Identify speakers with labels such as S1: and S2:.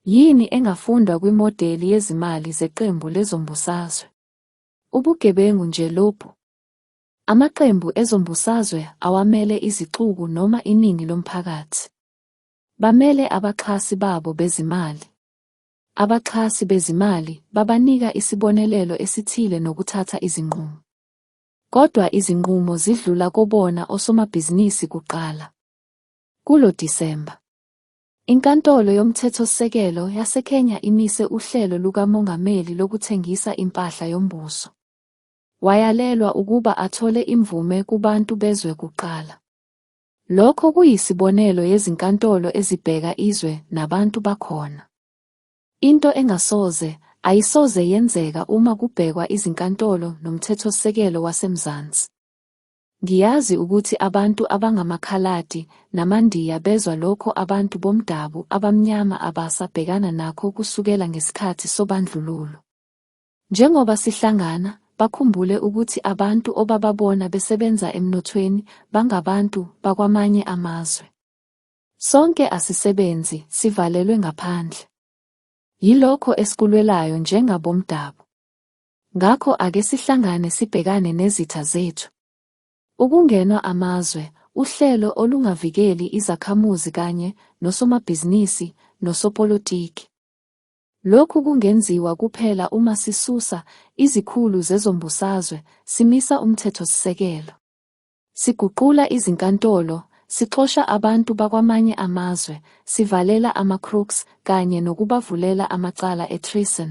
S1: Yini engafundwa kwimodeli yezimali zeqembu lezombusazwe? Ubugebengu nje lobu. Amaqembu ezombusazwe awamele izixuku noma iningi lomphakathi. Bamele abaxhasi babo bezimali. Abaxhasi bezimali babanika isibonelelo esithile nokuthatha izinqumo. Kodwa izinqumo zidlula kobona osomabhizinisi kuqala. Kulo Disemba, Inkantolo yoMthethosisekelo yaseKenya imise uhlelo lukamongameli lokuthengisa impahla yombuso. Wayalelwa ukuba athole imvume kubantu bezwe kuqala. Lokho kuyisibonelo yezinkantolo ezibheka izwe nabantu bakhona. Into engasoze, ayisoze yenzeka uma kubhekwa izinkantolo nomthethosisekelo waseMzansi. Ngiyazi ukuthi abantu abangamaKhaladi namaNdiya bezwa lokho abantu bomdabu abamnyama abasa bhekana nakho kusukela ngesikhathi sobandlululo. Njengoba sihlangana, bakhumbule ukuthi abantu obababona besebenza emnothweni bangabantu bakwamanye amazwe. Sonke asisebenzi, sivalelwe ngaphandle. Yilokho esikulwelayo njengabomdabu. Ngakho ake sihlangane sibhekane nezitha zethu. Ukungenwa amazwe, uhlelo olungavikeli izakhamuzi kanye nosomabhizinisi nosopolitiki. Lokhu kungenziwa kuphela uma sisusa izikhulu zezombusazwe, simisa umthethosisekelo, siguqula izinkantolo, sixosha abantu bakwamanye amazwe, sivalela ama-crooks kanye nokubavulela amacala e-treason.